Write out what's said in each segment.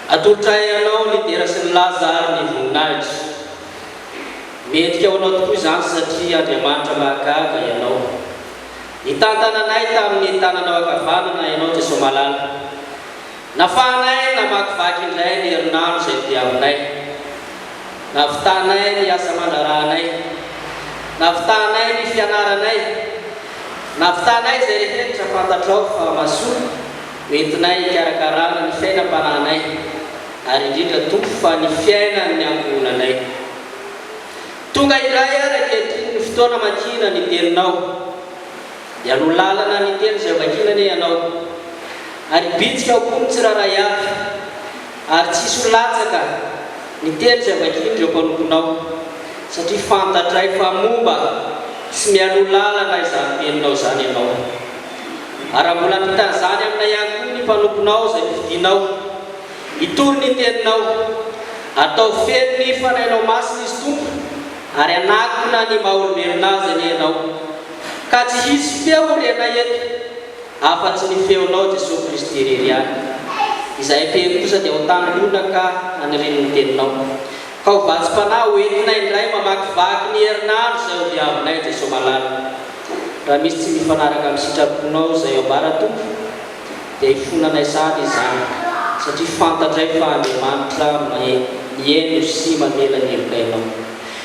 Atolotra ahy ianao ny dera sy ny laza ary ny voninahitra. Mendrika ho anao tokoa izany satria Andriamanitra mahagaga ianao. Nitantana anay tamin'ny tananao ankavanana ianao Jesoa Malala. Nafahanay namakivaky indray ny herinandro izay diavinay. Navitanay ny asa aman-draharahanay. Navitanay ny fianaranay. Navitanay izay rehetra fantatrao fa mahasoa ho entinay hikarakarana ny fiainam-panahinay, ary indrindra toa fa ny fiainan'ny ankohonanay. Tonga indray àry ankehitriny ny fotoana amakina ny Teninao. Dia no lalana ny teny izay vakiana anie ianao. Ary bitsika ao koa ny tsirairay avy. Ary tsy hisy ho latsaka ny teny izay vakian'ireo mpanomponao. Satria fantatray fa momba sy mialoha lalana izany teninao izany ianao. Ary raha mbola hampita an'izany amina ihany koa ny mpanomponao izay nofidinao hitory ny teninao, ataovy feno ny fanahinao masina izy Tompo, ary hanakona ny maha olombelona azy anie ianao. Ka tsy hisy feo orena eto afa-tsy ny feonao Jesoa Kristy irery ihany. Izahay tery kosa dia ho tany lona ka haniriany ny teninao. Ka ho vatsim-panahy ho entinay indray mamakivaky ny herinandro izay ho diavinay Jesoa malala. Raha misy tsy mifanaraka amin'ny sitraponao izay ambara Tompo dia hifonanay sahady izany satria fantatray fa Andriamanitra maheno sy mamela ny heloka ianao.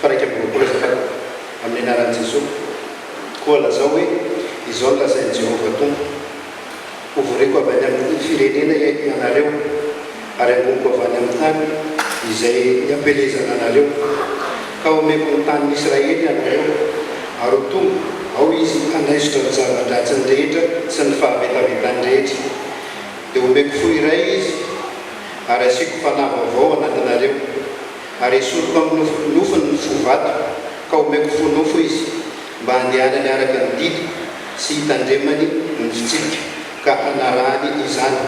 fa iraika amby roapolo aza Ataoko amin'ny anaran'i Jesoa, koa lazao hoe, Izao no lazain'i Jehovah Tompo, Hovoriko avy any amin'ny firenena ianareo, ary hangoniko avy any amin'ny tany izay niampelezana anareo, ka homeko ny tanin'i Israely ianareo, ary ho tonga ao izy hanaisotra ny zava-dratsiny rehetra sy ny fahavetavetany rehetra. Dia homeko fo iray izy, ary hasiako fanahy vaovao anatinareo. Ary esoriko amin'ny nofinofiny ny fo vato, ka omeko fo nofo izy, mba handehanany araka ny didiko, sy hitandremany ny fitsipiko, ka hanarahany izany.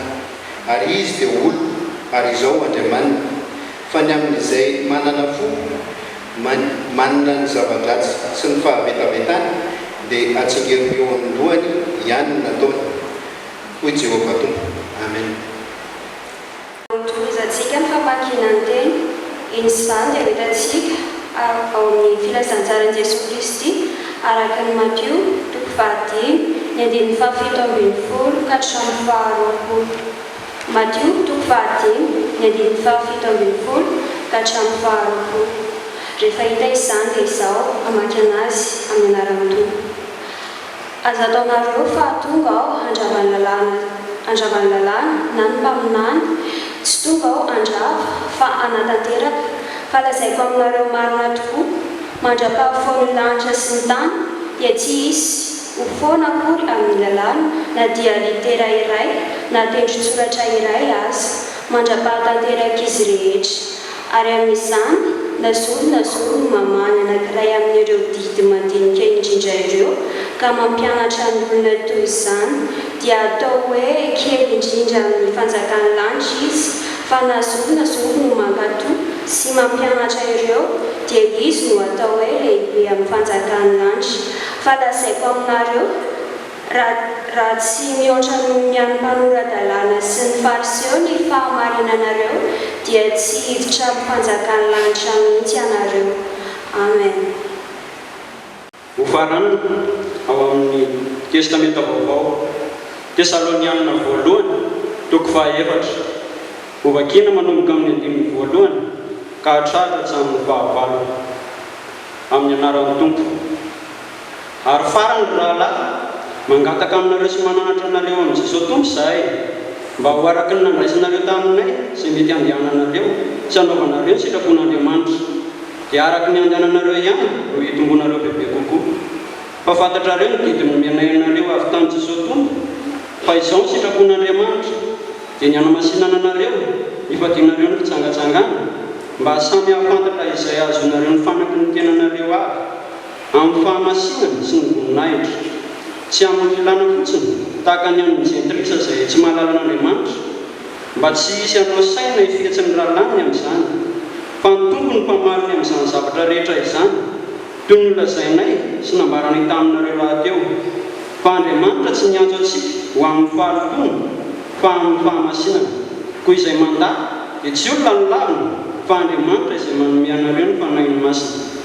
Ary izy dia ho oloko, ary izaho ho Andriamaniny. Fa ny amin'izay manana fo man, manana ny zava-dratsy sy ny fahavetavetany, dia hatsingeriko eo amin'ny lohany ihany ny nataony, hoy Jehovah Tompo. Amena. Tohizantsika ny famakiana ny teny. Inona izany dia ho hitantsika ao amin'ny Filazantsaran'i Jesoa Kristy araka an'i Matio, toko fahadimy, ny andininy fahafito ambin'ny folo ka hatramin'ny faharoapolo. Matio, toko fahadimy, ny andininy fahafito ambin'ny folo ka hatramin'ny faharoapolo. Rehefa hita izany dia izao, hamaky an'azy amin'ny anaran'ny Tompo. Aza ataonareo fa tonga aho handrava ny lalàna, handrava ny lalàna na ny mpaminany, tsy tonga aho handrava fa hanatanteraka, ka lazaiko aminareo marina tokoa, mandra-pahafoan'ny lanitra sy ny tany dia tsy hisy ho foana akory amin'ny lalàna na dia litera iray na tendron-tsoratra iray aza, mandra-pahatanterak'izy rehetra. ary amin'izany lazulona zoro ny mamany anankiray amin'ireo didy madinika indrindra ireo ka mampianatra ny olona toy izany dia atao hoe kely indrindra amin'ny fanjakan'ny lanitra izy fa na zolona zoro no mankato sy mampianatra ireo dia izy no atao hoe lehibe amin'ny fanjakan'ny lanitra fa lazaiko aminareo Raha tsy mihoatra noho ny an'ny mpanora-dalàna sy ny Fariseo ny fahamarinanareo, dia tsy hiditra amin'ny fanjakan'ny lanitra mihitsy ianareo. Amen. Hofarana ao amin'ny Testamenta Vaovao, Tesalonianina Voalohany, toko fahaefatra. Hovakina manomboka amin'ny andininy voalohany ka hatratra hatramin'ny fahavalony. Amin'ny anaran'ny Tompo. Ary farany ry rahalahy, mangataka aminareo sy mananatra anareo amin'i Jesoa Tompo izahay, mba ho araka ny nandraisanareo taminay izay mety handehananareo sy hanaovanareo ny sitrapon'Andriamanitra, dia araka ny handehananareo ihany no hitomboanareo bebe kokoa. Fa fantatrareo ny didy nomenay anareo avy tamin'i Jesoa Tompo, fa izao ny sitrapon'Andriamanitra, dia ny hanamasinana anareo, hifadianareo ny fijangajangana, mba samy hahafantatra izay hahazoanareo ny fanaky ny tenanareo avy. Amin'ny fahamasinana sy ny voninahitra. Tsy amin'ny filàna fotsiny, tahaka ny an'ny jentilisa izay tsy mahalala an'Andriamanitra, mba tsy hisy hanao saina hifetsy ny rahalahiny amin'izany, fa ny Tompo no mpamariny amin'izany zavatra rehetra izany, toy ny nolazainay sy nambaranay taminareo rahateo, fa Andriamanitra tsy niantso antsika ho amin'ny fahalotoana, fa amin'ny fahamasinana. Koa izay mandà, dia tsy olona no laviny, fa Andriamanitra izay manome anareo ny Fanahiny Masina.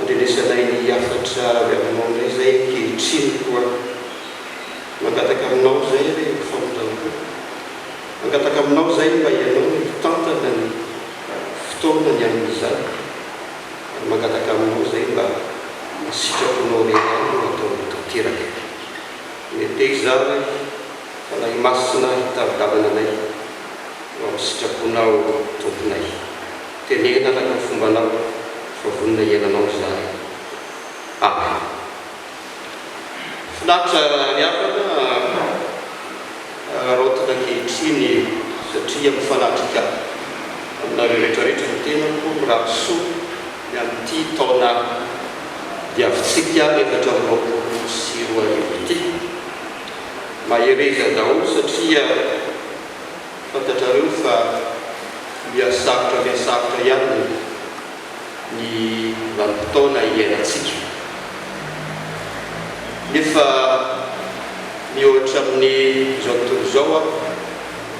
Andrenesanay ny hafatra avy aminao indray izay ankehitriny koa. Mangataka aminao izay re ho famindram-po. Mangataka aminao izay mba ianao no hitantana ny fotoana ny amin'izany. Ary mangataka aminao izay mba ny sitraponao re ihany no ataonao tanteraka. Mete izaho re, Fanahy Masina hitari-dalana anay eo amin'ny sitraponao Tomponay. Teneno araka ny fombanao fa vonona hiaina anao ry zalahy ah. Finaritra ny havana haraotina ankehitriny satria mifanatrika aminareo retraretra ny tenako, mirary soa ny amin'ity taona diavintsika efatra amby roapolo sy roa arivo ity. Mahereza daholo satria. Fantatrareo fa mihasarotra mihasarotra ihany ny vanim-potoana iainantsika. Nefa mihoatra amin'ny izao tontolo izao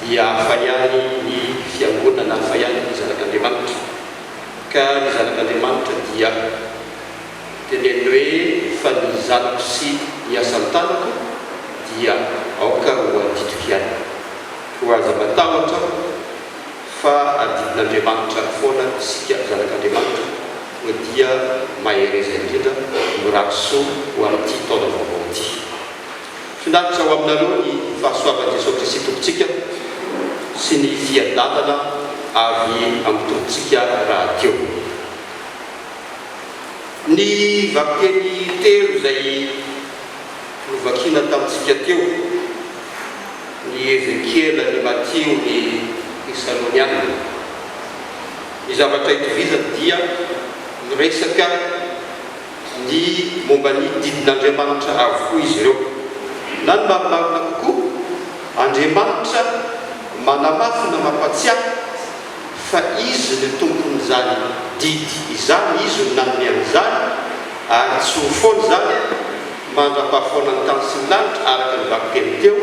dia hafa ihany ny fiangonana, hafa ihany ny zanak'Andriamanitra. Ka ny zanak'Andriamanitra dia. dia ny an'ny hoe fa ny zanako sy ny asan-tanako dia aoka ho adidiko ihany. Koa aza matahotra aho fa adidin'Andriamanitra foana isika zanak'Andriamanitra, koa dia mahereza indrindra, mirary soa ho amin'ity taona vaovao ity. Finaritra ho aminareo ny fahasoavan'i Jesoa Kristy Tompontsika sy ny fiadanana avy amin'ny Tompontsika rahateo. Ny vakiteny telo izay novakina tamintsika teo, ny Ezekiela, ny Matio, ny Tesaloniana. Ny zavatra itovizany dia miresaka ny momba ny didin'Andriamanitra avokoa izy ireo. Na ny marimarina kokoa, Andriamanitra manamafy na mampatsiahy. fa Izy no Tompon'izany didy izany, Izy no nanome an'izany, ary tsy ho foana izany mandra-pahafoanan'ny tany sy ny lanitra, araka ny vakiteny teo,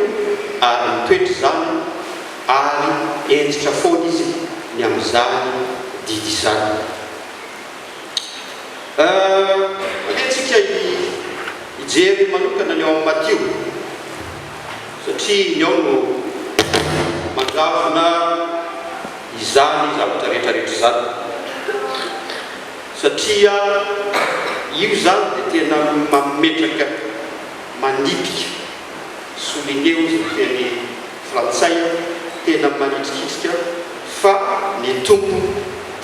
ary mitoetra izany, ary hentitra foana Izy ny amin'izany didy izany. Alehantsika hijery manokana ny ao amin'ny Matio. Satria ny ao no mandravona izany zavatra rehetra rehetra izany. Satria io izany dia tena mametraka, manipika, souligner hozy ny teny frantsay, tena manitrikitrika fa ny Tompo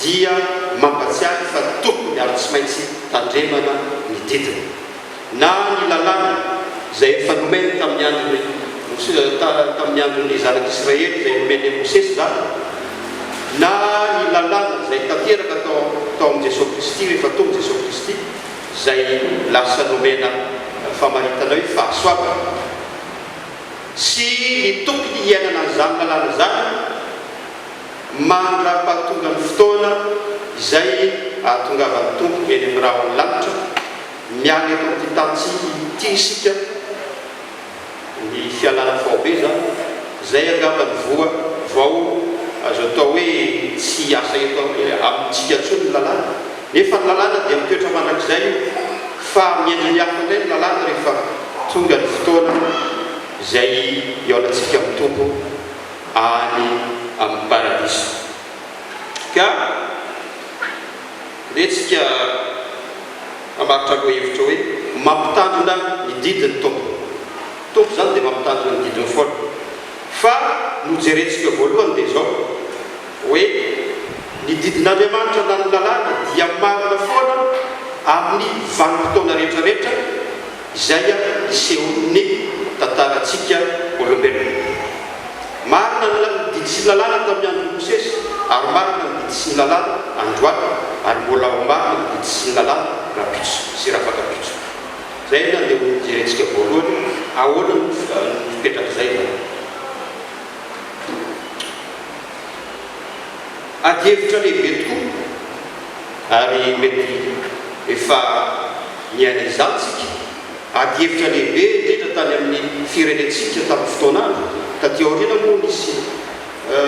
dia mampatsiahy fa tokony ary tsy maintsy tandremana ny didiny. na ny lalàna izay efa nomeny tamin'ny andron'i Mosesy, tamin'ny andron'ny zanak'Israely izay nomeny an'i Mosesy izany, na ny lalàna izay tanteraka tao tao amin'i Jesoa Kristy rehefa tonga Jesoa Kristy, izay lasa nomena famaritana hoe fahasoavana, sy ny tokony hiainana an'izany lalàna izany mandra-pahatongan'ny fotoana izay ahatongavan'ny Tompo eny amin'ny rahon'ny lanitra. Miala eto amin'ity tantsinga ity isika, ny fialana faobe izany, izay angamba no voa vao azo atao hoe tsy hiasa eto amintsika intsony ny lalàna. Nefa ny lalàna dia mitoetra mandrakizay io, fa miendriny hafa indray ny lalàna rehefa tonga ny fotoana izay hihaonantsika amin'ny Tompo any amin'ny Paradiso. Ka. Retsika mamaritra lohahevitra hoe mampitandrina ny didin'ny Tompo. Tompo izany dia mampitandrina ny didiny foana. Fa nojerentsika voalohany dia izao hoe ny didin'Andriamanitra na ny lalàny dia marina foana amin'ny vanim-potoana rehetra rehetra, Izay ny seholin'ny tantarantsika olombelona. Marina ny didy sy ny lalàna tamin'ny andron'i Mosesy, ary marina ny didy sy ny lalàna androany, ary mbola ho marina ny didy sy ny lalàna rahampitso sy rahafakampitso. Izay anie no hojerentsika voalohany, ahoana no fipetrak'izay izany. adihevitra lehibe tokoa ary mety efa niaina izany isika, adihevitra lehibe indrindra tany amin'ny firenentsika tamin'ny fotoana andro taty aoriana moa nisy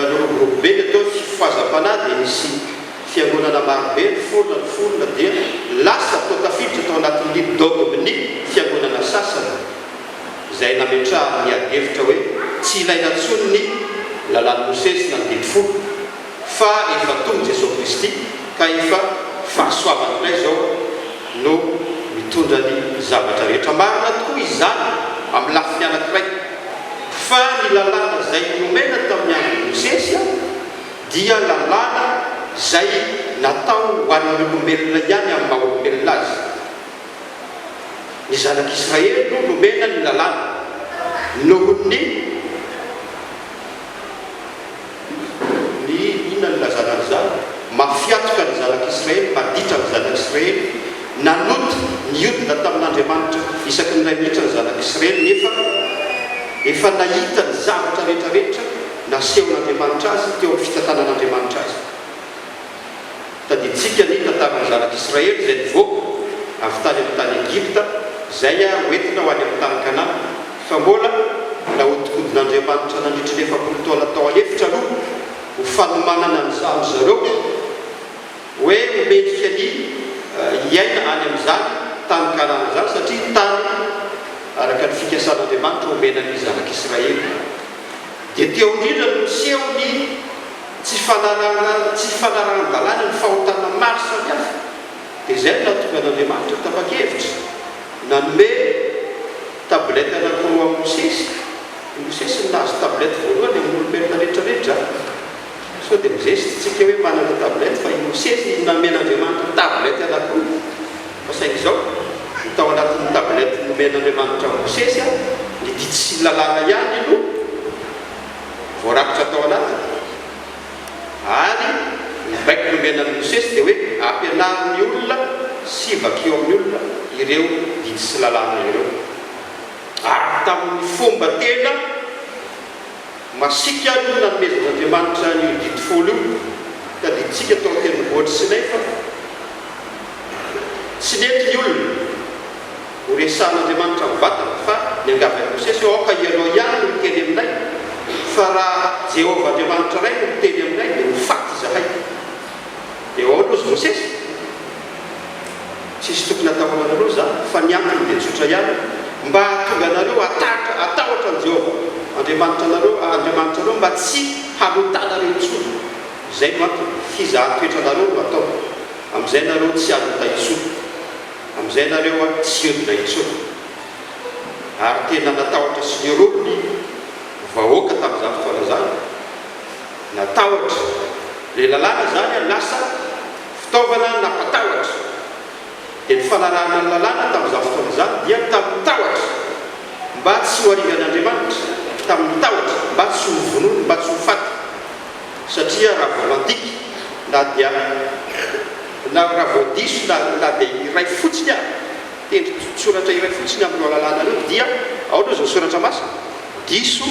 niroborobo be ny atao hoe fifazam-panahy dia nisy fiangonana maro be niforona niforona dia lasa tao tafiditra tao anatin'ny dogme ny fiangonana sasany. izay nametrahany ny adihevitra hoe tsy ilaina intsony ny Lalàn'i Mosesy na ny Didy Folo, fa efa tonga i Jesoa Kristy ka efa fahasoavany indray izao no mitondra ny zavatra rehetra. Marina tokoa izany amin'ny lafiny anankiray, fa ny Lalàna izay nomena tamin'ny andron'i Mosesy dia Lalàna izay natao ho an'ny olombelona ihany amin'ny maha-olombelona azy. Ny zanak'Israely no nomena ny lalàna noho ny, ny inona no ilazana an'izany? mafiatoka ny zanak'Israely, maditra ny zanak'Israely, nanota, niodina tamin'Andriamanitra isaky ny iray minitra ny zanak'Israely, nefa efa nahita ny zavatra rehetra rehetra nasehon'Andriamanitra azy teo amin'ny fitantanan'Andriamanitra azy. Tadidintsika ny tantaran'ny zanak'Israely izay nivoaka avy tany amin'ny tany Egypta izay hoentina ho any amin'ny tany Kanana. Fa mbola nahodinkodin'Andriamanitra nandritra ny efapolo taona tao an'efitra aloha ho fanomanana an-dry zareo hoe ho mendrika ny hiaina any amin'izany tany Kanana izany satria tany araka ny fikasan'Andriamanitra omena ny zanak'Israely. Dia teo indrindra no niseho ny. tsy fanarahana tsy fanarahan-dalàna ny fahotana maro samihafa, dia izay no nahatonga an'Andriamanitra ho tapa-kevitra nanome tablette anankiroa an'i Mosesy, i Mosesy no nahazo tablette voalohany amin'olombelona rehetra rehetra, sao dia mizesta isika hoe manana tablette fa i Mosesy no namen'Andriamanitra tablette anankiroa, fa saingy izao ny tao anatin'ny tablette nomen'Andriamanitra an'i Mosesy an, ny didy sy ny lalàna ihany no. voarakitra tao anatiny. Ary ny baiko nomena an'i Mosesy dia hoe, Ampianaro ny olona sy vakio amin'ny olona ireo didy sy lalàna ireo. Ary tamin'ny fomba tena masiaka no nanomezan'Andriamanitra io Didy Folo io, tadidintsika tao an-tendrombohitr'i Sinay fa tsy nety ny olona. Ho resahan'Andriamanitra mivantana fa niangavy an'i Mosesy hoe, Aoka ianao ihany no hiteny aminay, fa raha Jehovah Andriamanitra iray no miteny aminay, dia ho faty izahay. Dia ahoana hozy Mosesy? Tsisy tokony hatahorana anareo za, fa ny antony dia tsotra ihany, mba hahatonga anareo hatahotra hatahotra an'i Jehovah Andriamanitranareo, Andriamanitrareo, mba tsy halotanareo intsony. Izay no antony. Fizahan-toetra anareo no atao. Amin'izay ianareo tsy halota intsony. Amin'izay nareo a tsy hiodina intsony. Ary tena natahotra sy niroro ny vahoaka tamin'izany fotoana izany. Natahotra. Ilay lalàna izany a lasa fitaovana nampatahotra. Dia ny fanarahana ny lalàna tamin'izany fotoana izany dia tamin'ny tahotra mba tsy ho arigan'Andriamanitra, tamin'ny tahotra mba tsy ho vonoiny, mba tsy ho faty. satria raha vao mandika na dia na raha vao diso na na dia iray fotsiny ary tendron-tsoratra iray fotsiny amin'ireo alalana ireo dia ao aloha izao soratra masina diso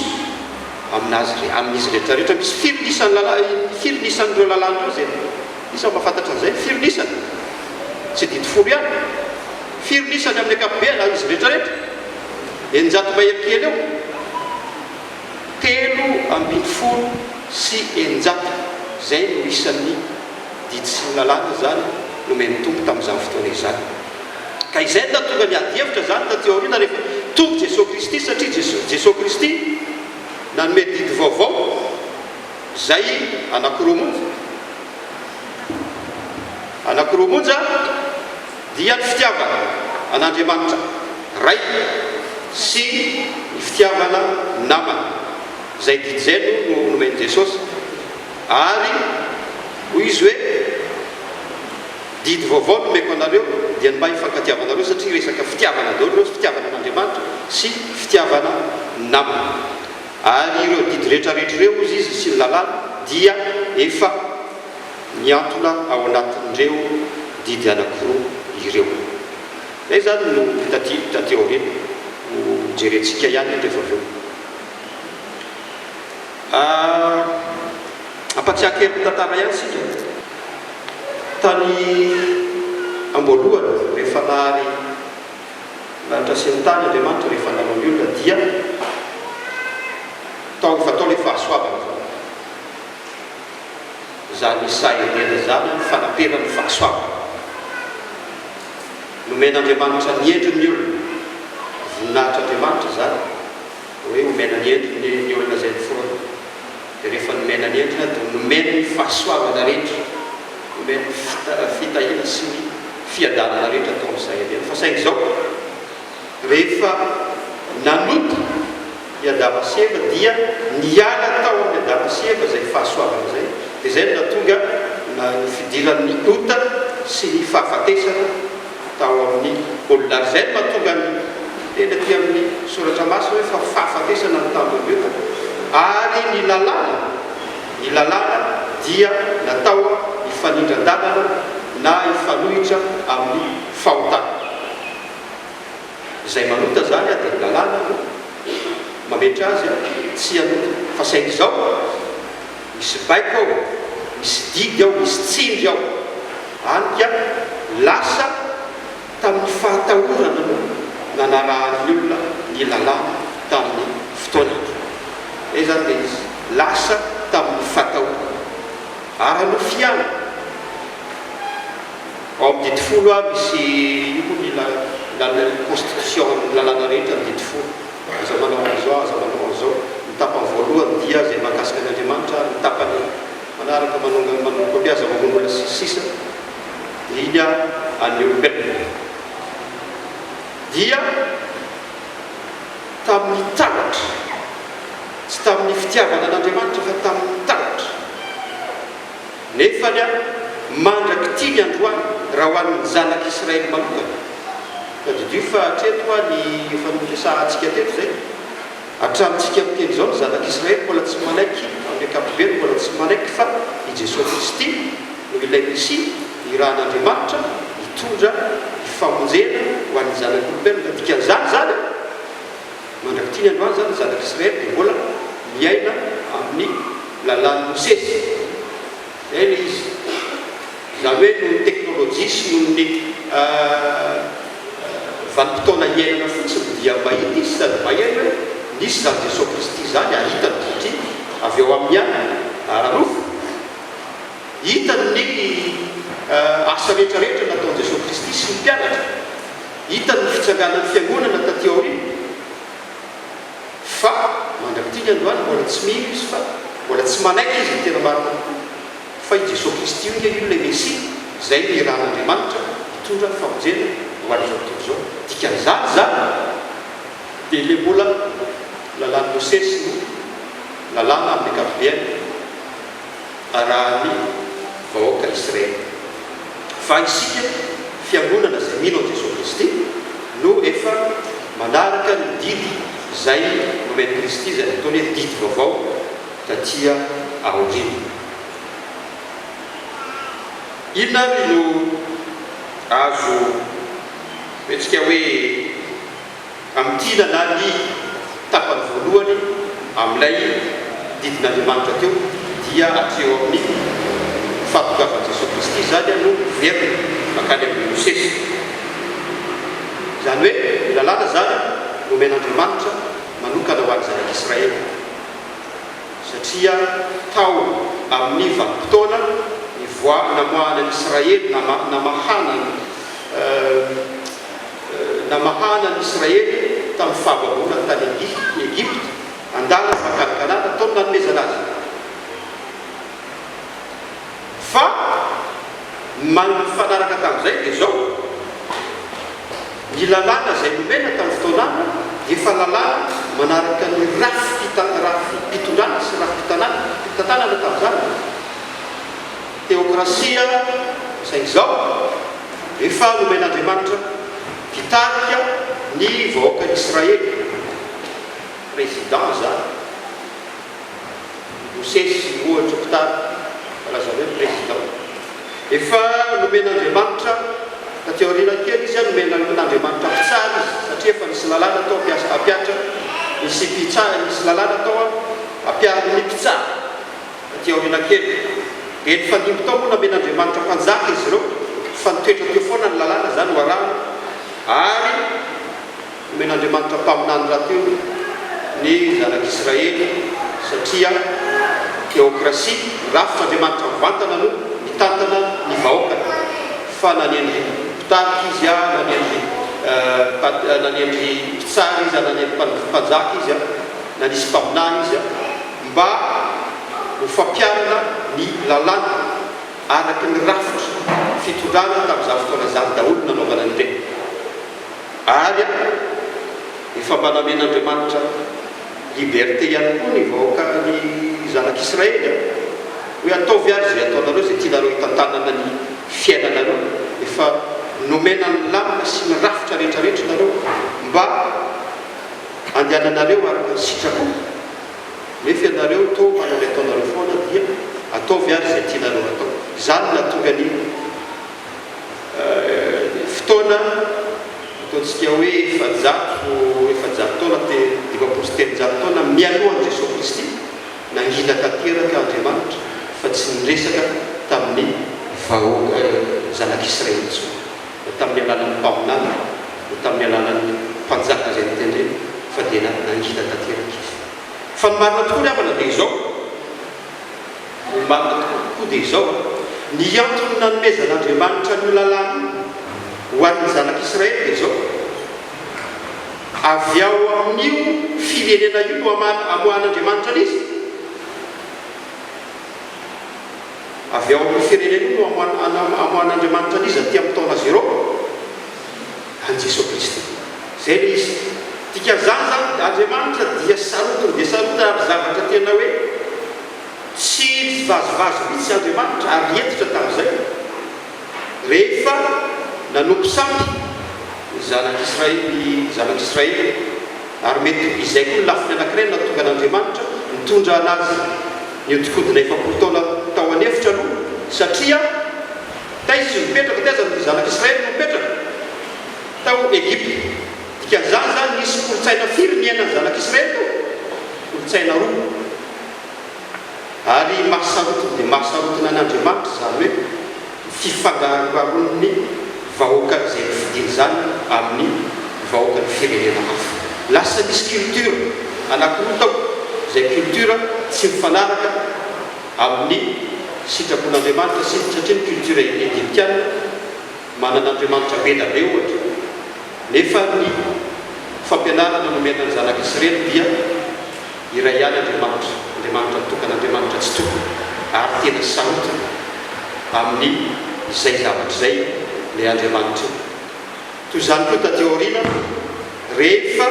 amin'azy re amin'izy rehetra rehetra misy firy ny isan'ny lala firy ny isan'ireo lalana ireo izay iza no mahafantatra an'izay firy ny isany tsy didy folo ihany firy ny isany amin'ny ankapobeny amin'izy rehetra rehetra eninjato mahery kely eo Telo ambin'ny folo sy eninjato, izay no isan'ny didy sy ny lalàna izany nomen'ny Tompo tamin'izany fotoana izany. Ka izay no nahatonga ny ady hevitra izany taty aoriana rehefa tonga i Jesoa Kristy, satria Jesoa Jesoa Kristy nanome didy vaovao izay anankiroa monja, anankiroa monja, Dia ny fitiavana an'Andriamanitra Ray sy ny fitiavana ny namana, izay dijeno no nomen'i Jesosy. Ary hoy Izy hoe, Didy vaovao no omeko anareo, dia ny mba hifankatiavanareo, satria resaka fitiavana daholo ireo, fitiavana an'Andriamanitra sy fitiavana ny namana. Ary ireo didy rehetrarehetra ireo, hozy Izy, sy ny lalàna dia efa. Miantona ao anatin'ireo didy anankiroa ireo. Izay izany no taty taty aoriana, ho jerentsika ihany rehefa avy eo. Hampatsiahy kely ny tantara ihany isika. Tany am-boalohany, rehefa nahary lanitra sy ny tany Andriamanitra, rehefa nanao ny olona, dia tao efa tao ilay fahasoavana. izany sahin'ela izany ny fanaperan'ny fahasoavana. Nomen'Andriamanitra ny endriny ny olona, voninahitr'Andriamanitra izany hoe omena ny endriny ny olona izay noforonina, dia rehefa nomena ny endrina dia nomeny ny fahasoavana rehetra, nomeny ny fitahiana sy ny fiadanana rehetra tao amin'ny sahin'ela. Fa saingy izao, rehefa nanota, I Adama sy Eva dia niala tao amin'i Adama sy Eva izay fahasoavana izay, dia izay no nahatonga ny fidiran'ny ota sy ny fahafatesana tao amin'ny olona. Ary izay no mahatonga ny teny aty amin'ny Soratra Masina hoe fa fahafatesana no tampon'ny ota. Ary ny lalàna, ny lalàna dia natao hifanindran-dalana na hifanohitra amin'ny fahotana. Izay manota zany a de lalàna no mametra azy a tsy hanota fa saingy izao a misy baiko ao misy didy ao misy tsindry ao hany ka lasa tamin'ny fahatahorana no nanarahan'ny olona ny lalàna tamin'ny fotoana iny zay zany le izy lasa tamin'ny fatahorana ara-nofiana. Ao amin'ny didy folo ary misy io koa ny la la ny constitution ny lalàna rehetra ny didy folo aza manao an'izao aza manao an'izao ny tapany voalohany dia izay mahakasika an' Andriamanitra ary ny tapany manaraka manongana manomboka hoe aza mamono olona sy ny sisa dia an'ny olombelona dia tamin'ny taratra tsy tamin'ny fitiavana an'Andriamanitra fa tamin'ny taratra Nefa ny ahy, mandrak'ity ny androany, raha ho an'ny zanak'Israely manokana. Tadidio fa hatreto hoa ny efa noresahantsika teto izay. Hatramintsika miteny izao, ny zanak'Israely mbola tsy manaiky, amin'ny ankapobeny mbola tsy manaiky fa i Jesoa Kristy no ilay Mesia nirahan'Andriamanitra hitondra ny famonjena ho an'ny zanak'olombelona. Dikan'izany izany. Mandrak'ity ny androany izany ny zanak'Israely dia mbola miaina amin'ny lalàn'i Mosesy. Izay ilay izy. Izany hoe noho ny teknolojia sy noho ny vanim-potoana hiainana fotsiny dia mahita izy sady mahery hoe nisy izany Jesoa Kristy izany hahita ny dotty avy ao amin'ny any ara-nofo. Hitany ny asa rehetra rehetra nataon'i Jesoa Kristy sy ny mpianatra. Hitany ny fitsanganan'ny fiangonana taty aoriana fa mandrak'ity ny androany mbola tsy mino izy fa mbola tsy manaiky izy ny tena marina tokoa fa i Jesoa Kristy io nge io ilay Mesia izay nihirahan'Andriamanitra hitondra famonjena ho an'izao tontolo izao. Dikan'izany izany dia ilay mbola lalàn'i Mosesy no lalàna amin'ny ankapobeny. arahan'ny vahoaka Israely. Fa isika fiangonana izay mino an'i Jesoa Kristy no efa manaraka ny didy izay nomen'i Kristy izay nataony hoe didy vaovao taty aoriana. Inona ary no azo hoentsika hoe. Amin'ity nanary ny tapany voalohany amin'ilay didin'Andriamanitra teo, dia hatreo amin'ny fahatongavan'i Jesoa Kristy izany no miverina mankany amin'i Mosesy. Izany hoe ny Lalàna izany nomen'Andriamanitra manokana ho an'ny Zanak'Israely, satria tao amin'ny vanim-potoana nivoaha-namoahana an'Israely, namahana ny. namahana an'i Israely tamin'ny fahababoana tany Egypta, andalana mankany Kanana, tao no nanomezana azy. Fa ny maha nifanaraka tamin'izay dia izao, ny lalàna izay nomena tamin'ny fotoanana dia efa lalàna manaraka ny rafi-pitondrana sy rafi-pitantanana tamin'izany. Teokrasia izay izao, rehefa nomen'Andriamanitra mpitarika ny vahoakan'i Israely, président izany, Mosesy ohatra mpitarika, raha izany hoe président. Efa nomen'Andriamanitra, taty aoriana kely izy, nomen'Andriamanitra mpitsara izy, satria efa nisy lalàna tao hampiasa, hampiatra, nisy mpitsara, nisy lalàna tao hampiarin'ny mpitsara. Aty aoriana kely, dia nifandimby tao moa namen'Andriamanitra mpanjaka izy ireo, fa nitoetra teo foana ny lalàna, izany ho arahina, ary nomen'Andriamanitra mpaminany rahateo ny zanak'Israely, satria teokrasia, rafitr'Andriamanitra mivantana no mitantana ny vahoakany, fa nanendry mpitarika izy, nanendry nanendry mpitsara izy, nanendry mpanjaka izy, nanisy mpaminany izy. mba ho fampiharana ny lalàna araka ny rafitra fitondrana tamin'izany fotoana izany daholo no nanaovana an'ireny. Ary an, efa mba namen'Andriamanitra liberté ihany koa ny vahoaka, ny zanak'Israely an! hoe ataovy ary izay ataonareo, izay tianareo hitantanana ny fiainanareo, efa nomena ny lalana sy ny rafitra rehetrarehetra ianareo mba handehananareo araka ny sitrapo. Nefa ianareo toa manao ny ataonareo foana dia ataovy ary izay tianareo hatao. Izany no nahatonga ny fotoana ataontsika hoe efajato, efajato taona, te, dimampolo sy telonjato taona mialohan'i Jesoa Kristy, nangina tanteraka Andriamanitra fa tsy niresaka tamin'ny vahoaka, zanak'Israely intsony. na tamin'ny alalan'ny mpaminany, na tamin'ny alalan'ny mpanjaka izay notendrena, fa dia nangina tanteraka izy. Fa ny marina tokoa ry havana dia izao, ny marina tokoa dia izao, ny antony nanomezan'Andriamanitra an'io lalàna io ho an'ny zanak'Israely dia izao, Avy ao amin'io firenena io no amoahan'Andriamanitra an'izy. avy ao amin'ny firenena io no amoahan'Andriamanitra an'iza aty amin'ny taona zéro? An'i Jesoa Kristy. Izay ilay izy. Dikan'izany izany, Andriamanitra dia sarotiny dia sarotiny ary zavatra tena hoe tsy nivazivazy mihitsy Andriamanitra ary hentitra tamin'izay rehefa nanompo sampy ny zanak'Israely, ny zanak'Israely. Ary mety ho izay koa ny lafiny anankiray nahatonga an'Andriamanitra nitondra an'azy nihodinkodina efapolo taona tao an'efitra aloha, satria taiza izy nipetraka, taiza ny zanak'Israely no nipetraka? Tao Egypta. Dikan'izany izany nisy kolontsaina firy niainan'ny zanak'Israely tao? Kolontsaina roa. Ary mahasarotiny dia mahasarotiny an'Andriamanitra izany hoe ny fifangaroharon'ny vahoakan'izay nofidiny izany amin'ny vahoakan'ny firenena hafa. Lasa misy culture anankiroa tao, izay culture tsy mifanaraka amin'ny sitrapon'Andriamanitra sy satria ny culture egyptiana manana andriamanitra be da be ohatra nefa ny fampianarana nomena ny zanak'Isrely dia Iray ihany Andriamanitra, Andriamanitra mitokana, Andriamanitra tsy tokana ary tena sarotiny amin'ny izay zavatra izay ilay Andriamanitra io. Toy izany koa taty aoriana rehefa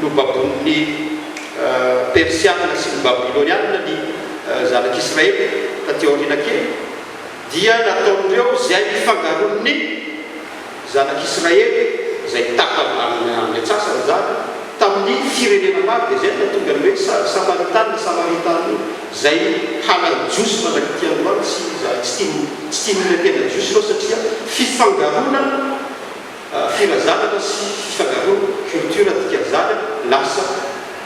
nobaboin'ny Persiana sy ny Babyloniana ny zanak'Israely taty aoriana kely dia nataon'ireo izay nifangaron'ny. Zanak'Israely izay taka amin'ny antsasany izany tamin'ny firenena maro dia izay no nahatonga ny hoe Samaritany na Samaritana izay halany Jiosy manak'ity androany sy izay tsy tiany tsy tiany olona tena Jiosy ireo satria fifangaroana firazanana sy fifangaroana culture dikan'izany lasa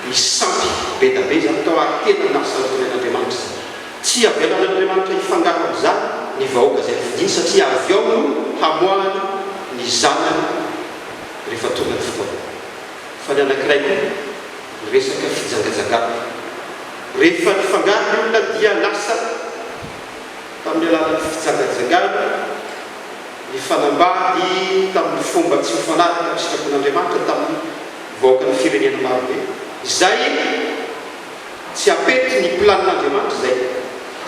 misampy bedabe izany tao ary tena nahasarotina an'Andriamanitra izany. Tsy avelan'Andriamanitra hifangaro amin'izany ny vahoaka izay nofidiny satria avy ao no hamoahany ny zanany rehefa tonga ny fotoana. Fa ny anankiray koa, ny resaka fijangajangana. Rehefa nifangaro ny olona dia lasa tamin'ny alalan'ny fijangajangana, nifanambady tamin'ny fomba tsy mifanaraka amin'ny sitrapon'Andriamanitra tamin'ny vahoakan'ny firenena marobe izay. Tsy apety ny plan Andriamanitra izay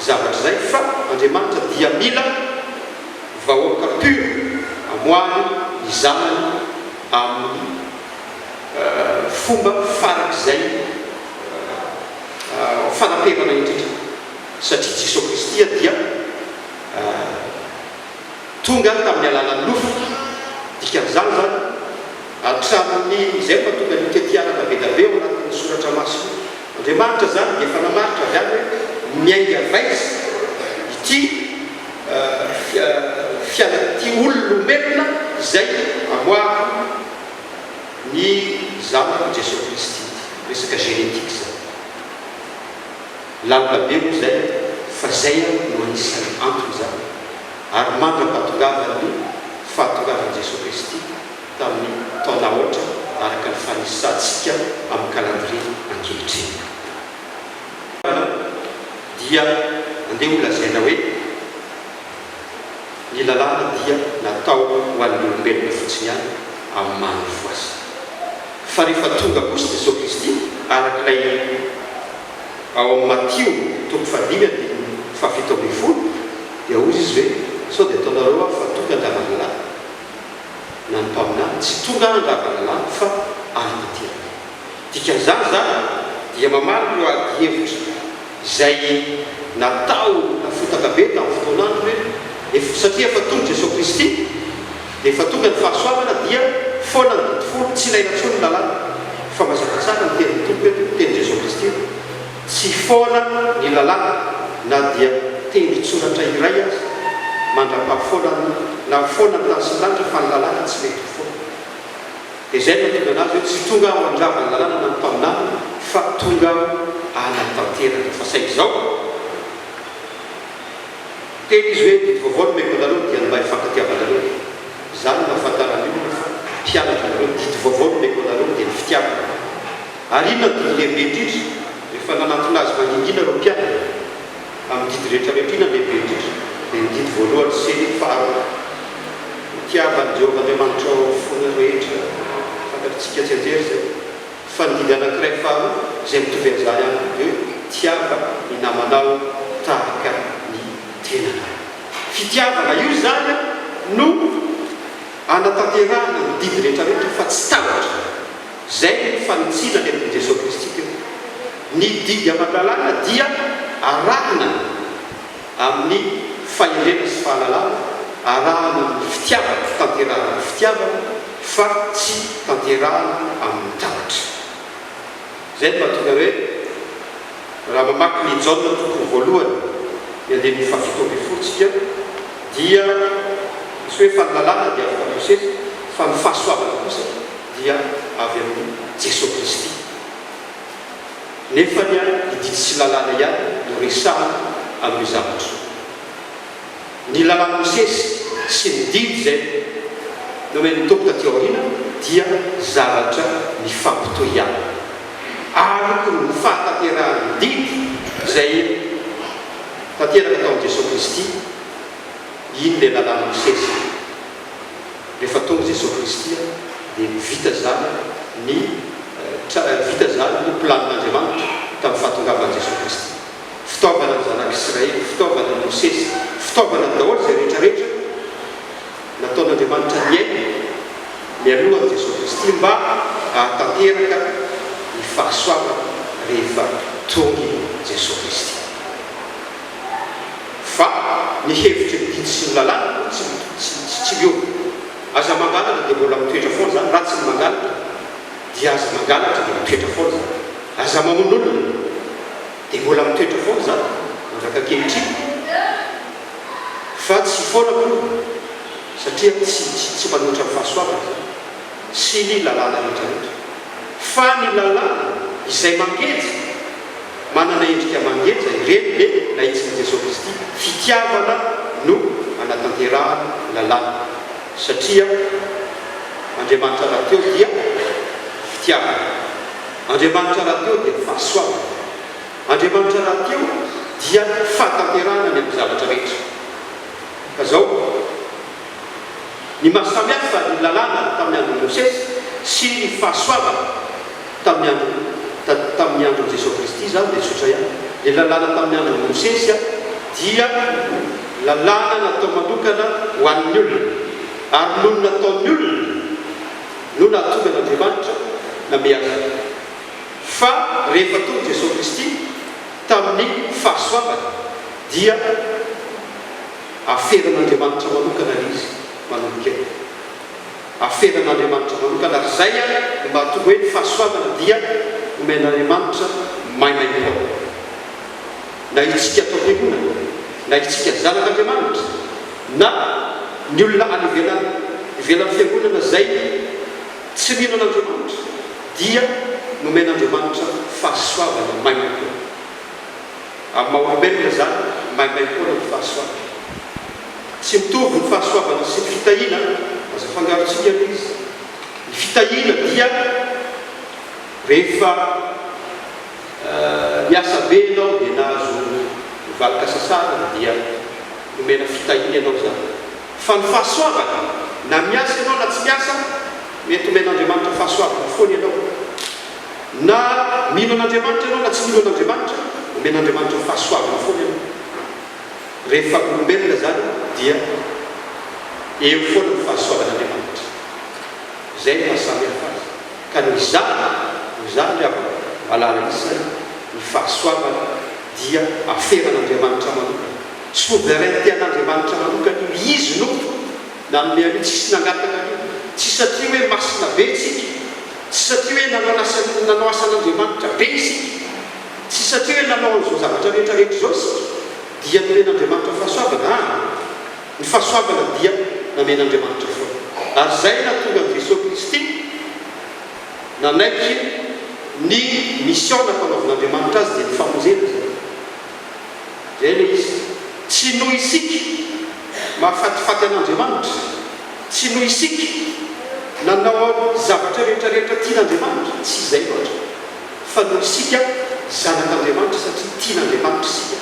zavatra izay fa Andriamanitra dia mila vahoaka pur amoahany ny zanany amin'ny fomba farak'izay fanaperana indrindra satria Jesoa Kristia dia tonga tamin'ny alalan'ny nofo dikan'izany izany Hatramin'izay no mahatonga ny tetiarana be dia be ao anatin'ny soratra masina Andriamanitra izany dia efa namaritra avy any hoe miainga vaizy ity fianan'ity ololomelona izay amoahako ny zanako Jesoa Kristy ity. Resaka génétique izany. Lalina be moa izay fa izay ary no anisan'ny anton'izany ary mandra-pahatongavan'ny fahatongavan'i Jesoa Kristy. tamin'ny taona aotra araka ny fanisantsika amin'ny kalandrie ankehitriny. Dia andeha ho lazaina hoe ny lalàna dia natao ho an'ny olombelona fotsiny ihany amin'ny maha nofo azy. Fa rehefa tonga kosa Jesoa Kristy araka ilay ao amin'ny Matio toko fahadimy andininy fahafito ambin'ny folo dia hoy Izy hoe sao dia ataonareo aho fa tonga an-dravalilahy? na ny mpaminany tsy tonga handravana lampo fa any tanteraka. Dikan'izany izany dia mamaly ireo adihevitra izay natao nafotaka be tamin'ny fotoanany hoe ef satria efa tonga Jesoa Kristy dia efa tonga ny fahasoavana dia foana ny didifolo tsy ilaina intsony ny lalàna fa mazava tsara ny tenin'ny Tompo eto, ny tenin'i Jesoa Kristy. Tsy foana ny lalàna na dia tendron-tsoratra iray aza mandra-pahafoanany na foana ny tany sy ny lanitra fa ny lalàna tsy mety ho foana. Dia izay no nitondra anazy hoe tsy tonga aho handrava ny lalàna na ny mpaminany fa tonga aho hanatanteraka. Fa saingy izao teny izy hoe didy vaovao nomeko anareo dia ny mba hifankatiavanareo. Izany no ahafantaran'ny olona fa mpianatra anareo, ny didy vaovao nomeko anareo dia ny fitiavana. Ary inona no didy lehibe indrindra? Rehefa nanantona azy mangingina ireo mpianany amin'ny didy rehetra rehetra, inona no lehibe indrindra? Dia ny didy voalohany sy faharoa, Hitiavan'i Jehovah Andriamanitrao amin'ny fonao rehetra. Fantatr'tsika tsianjery izay. Fa ny didy anankiray faharoa, izay mitovy amin'izany ihany koa, dia hoe, Tiava ny namanao tahaka ny tenanao. Fitiavana io izany no anatanterahana ny didy rehetra rehetra fa tsy tahotra. Izay no fanitsiana nentin'i Jesoa Kristy teo. Ny didy aman-dalàna dia arahina amin'ny fahendrena sy fahalalana, arahina amin'ny fitiavana, tanterahina amin'ny fitiavana fa tsy tanterahina amin'ny tahotra. Izay no mahatonga hoe raha mamaky ny Jaona toko voalohany, ny andininy fahafito ambin'ny folo tsika dia misy hoe, fa ny lalàna dia afaka atao sehatra, fa ny fahasoavana kosa. dia avy amin'i Jesoa Kristy. Nefa ny ahy ny didy sy lalàna ihany no resahana amin'io zavatra io. Ny lalàn'i Mosesy sy ny didy izay nomen'ny Tompo taty aoriana dia zavatra mifampitohy ihany. Ary koa ny fahatanterahan'ny didy izay tanteraka tao amin'i Jesoa Kristy, iny ilay lalàn'i Mosesy. Rehefa tonga Jesosy Kristy dia vita zany ny vita zany ny planin'Andriamanitra tamin'ny fahatongavan'i Jesosy Kristy. Fitaovana ny zanak'Israely, fitaovana ny Mosesy, fitaovana ny daholo izay rehetra rehetra nataon'Andriamanitra niaina mialohan'i Jesosy Kristy mba hahatanteraka ny fahasoavana rehefa tonga i Jesosy Kristy. Fa ny hevitry ny didy sy ny lalàna aloha tsy tsy tsy miova. Aza mangalatra dia mbola mitoetra foana izany, raha tsy ny mangalatra dia aza mangalatra dia mitoetra foana izany. Aza mamono olona dia mbola mitoetra foana izany mandraka ankehitriny fa tsy foana akory satria tsy tsy tsy manohitra ny fahasoavana izany sy ny lalàna rehetra rehetra. Fa ny lalàna izay mangeja Manana endrika mangeja ireny ny lahitsin'i Jesoa Kristy, fitiavana no anatanterahany ny lalàna, satria Andriamanitra rahateo dia fitiavana, Andriamanitra rahateo dia fahasoavana, Andriamanitra rahateo dia fahatanterahana ny amin'ny zavatra rehetra. Ka zao. Ny maha samy hafa ny Lalàna tamin'ny andron'i Mosesy sy ny fahasoavana tamin'ny andron'i, ta, tamin'ny andron'i Jesoa Kristy izany dia tsotra ihany. Ilay Lalàna tamin'ny andron'i Mosesy dia Lalàna natao manokana ho an'ny olona, ary noho ny nataon'ny olona no nahatonga an'Andriamanitra namehy azy. Fa rehefa tonga Jesoa Kristy tamin'ny fahasoavany dia Aferan'Andriamanitra manokana le izy manomboka eo. Aferan'Andriamanitra manokana ary zay a no mahatonga hoe ny fahasoavana dia omen'Andriamanitra maimaim-poana. Na itsika ato am-piangonana, na itsika zanak'Andriamanitra, na ny olona any ivelany, ivelan'ny fiangonana zay tsy mino an'Andriamanitra dia nomen'Andriamanitra fahasoavana maimaim-poana. Amin'ny maha olombelona izany, maimay foana ny fahasoavana. Tsy mitovy ny fahasoavana sy ny fitahiana, aza afangarontsika aloha izy. Ny fitahiana dia rehefa niasa be ianao dia nahazo valika sasana dia nomena fitahiana ianao izany. Fa ny fahasoavana, na miasa ianao na tsy miasa, mety omen'Andriamanitra fahasoavana foana ianao. Na mino an'Andriamanitra ianao na tsy mino an'Andriamanitra, omen'Andriamanitra fahasoavana foana ianao. Rehefa olombelona izany dia eo foana ny fahasoavan'Andriamanitra. Izay no mahasamihafa azy. Ka noho izany, noho izany ry havana malala isany, ny fahasoavana dia aferan'Andriamanitra manokana. Souveraineté an'Andriamanitra manokana io. Izy no nanome an'io, tsisy nangataka an'io. Tsy satria hoe masina be isika. Tsy satria hoe nanao asa nanao asan'Andriamanitra be isika, tsy satria hoe nanao an'izao zavatra rehetra rehetra izao isika dia nomen'Andriamanitra fahasoavana, aa, ny fahasoavana dia namen'Andriamanitra foana. Ary izay no nahatonga an'i Jesoa Kristy nanaiky ny mission nampanaovin'Andriamanitra Azy dia ny famonjena izany. Izay ilay izy. Tsy noho isika mahafatifaty an'Andriamanitra. Tsy noho isika nanao ny zavatra rehetrarehetra tian'Andriamanitra, tsy izay loatra, fa noho isika zanak'Andriamanitra satria tian'Andriamanitra isika,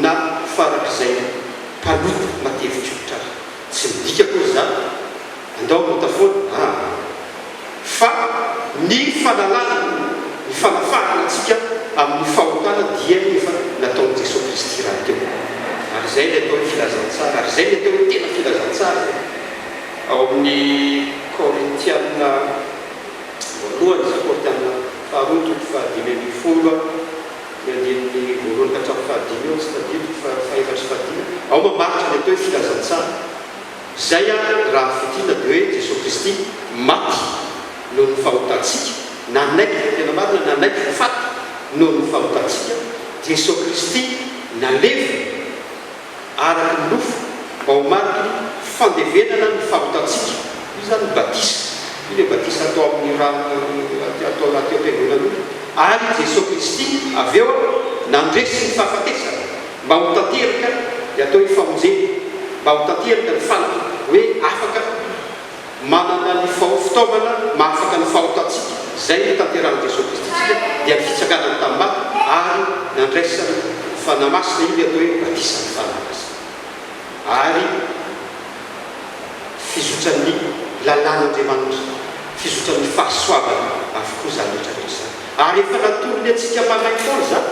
na farak'izay mpanota matevitrotr ary. Tsy midika akory izany, andao hanota foana, aa. fa ny fanalana ny fanafahana antsika amin'ny fahotana dia ny efa nataon'i Jesoa Kristy rahateo. Ary izay ilay atao hoe filazantsara, ary izay ny atao hoe tena filazantsara e! Ao amin'ny Korintiana voalohany, izany Korintiana faharoa toko fahadimy ambin'ny folo, ny andininy voalohany ka hatramin'ny fahadimy eo, tsy tadidiko fa fahefatry fahadimy, ao mamaritra ny atao hoe filazantsara. Izay ary raha fintinina dia hoe Jesoa Kristy maty noho ny fahotantsika, nanaiky fa tena marina, nanaiky fa faty noho ny fahotantsika, Jesoa Kristy nalevina araka ny nofo mba ho mariky ny fandevenana ny fahotantsika, io izany ny batisa, io ilay batisa atao amin'ny rano atao anaty ampiangonan'olona, ary Jesoa Kristy avy eo nandresy ny fahafatesana. Mba ho tanteraka dia atao io famonjena mba ho tanteraka ny fanaky hoe afaka manana ny fao fitaovana mahafaka ny fahotantsika izay notanterahan'i Jesoa Kristy tsika dia ny fitsanganany tamin'ny maty ary nandraisany Fanahy Masina io ny atao hoe batisan'ny Fanahy Masina ary fizotran'ny lalàn'Andriamanitra fizotran'ny fahasoavana avokoa izany rehetra rehetra izany ary efa natolony antsika maraim-poana izany